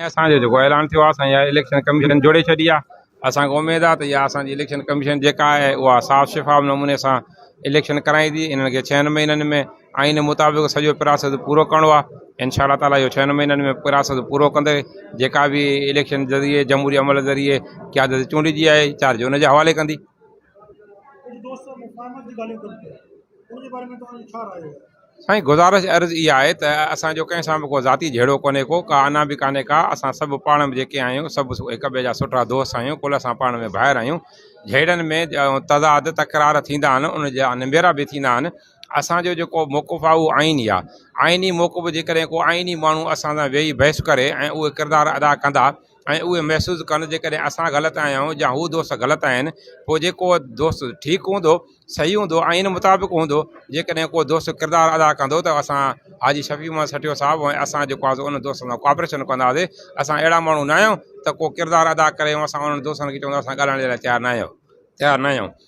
اسان جو جيڪو اعلان ٿيو آهي سائين اها اليڪشن ڪميشن جوڙي ڇڏي آهي اسان کي اميد آهي ته اها اسان جي اليڪشن ڪميشن جيڪا آهي اها صاف شفاف نموني سان اليڪشن ڪرائيندي انهن کي ڇهن مهينن ۾ آئين مطابق سڄو پراسيس پورو ڪرڻو آهي انشاء الله تعالٰي اهو ڇهن مهينن ۾ پراسيس پورو ڪندي جيڪا به اليڪشن ذريعي جمهوري عمل ذريعي قيادت چونڊجي آهي چار جون جي حوالي ڪندي سائين گذارش عرض اها آهي ته اسان جو ڪنهن سان به ڪو ذاتي جهيڙو ڪونهي ڪو ڪا انا به ڪانهي ڪا اسان سڀ پاڻ ۾ جيڪي آهيون سڀ هڪ ٻئي جا سٺا دوست آهيون ڪل اسان پاڻ ۾ ڀائر آهيون جهيڙن ۾ تضاد تڪرار ٿيندا آهن ان جا نبيرا به ٿيندا آهن اسان جو جيڪو موقف آهي اهو آئيني آهي آئيني موقف جيڪڏهن ڪو آئيني ماڻهو اسان سان ويهي بحث ڪري ۽ اهي ڪردار ادا ڪندا ۽ اهو محسوس ڪن جيڪڏهن اسان غلط آهيا آهيون يا هو دوست غلط آهن پوء جيڪو دوست ٺيڪ هوندو صحيح هوندو آئين مطابق هوندو جيڪڏهن ڪو دوست ڪردار ادا ڪندو ته اسان حاجي شفيع محمد سٺيو صاحب ۽ اسان جيڪو آسو ان دوست سان ڪوآپريشن ڪنداسي اسان اهڙا ماڻهو ناهيون ته ڪو ڪردار ادا ڪري اسان انهن دوستن کي چون اسان ڳالهائڻ جي لاء تيار ناهيون تيار ناهيون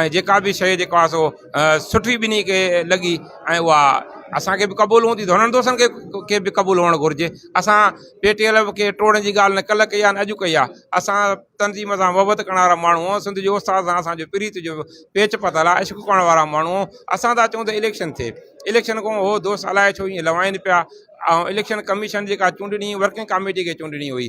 ۽ جيڪا به شيء جيڪو آ سو سٺي ٻنهي کي لڳي ۽ اها اسانکي به قبول هوندي ڌڻن دوستن کي کي به قبول هئڻ گهرجي اسان پي ٽي ايل کي ٽوڙڻ جي ڳالهه نه ڪلهه ڪئي آ نه اڄ ڪئي آ اسان تنظيم سان محبت ڪرڻ وارا ماڻهو آهون سنڌ جو استاد سان اسانجو پريت جو پيچ پتل آ عشق ڪرڻ وارا ماڻهو اسان ته چون ته اليڪشن ٿئي اليڪشن کان هو دوست الائي ڇو ائين لوائن پيا ۽ اليڪشن ڪميشن جيڪا چونڊڻي ورڪنگ ڪاميٽي کي چونڊڻي هئي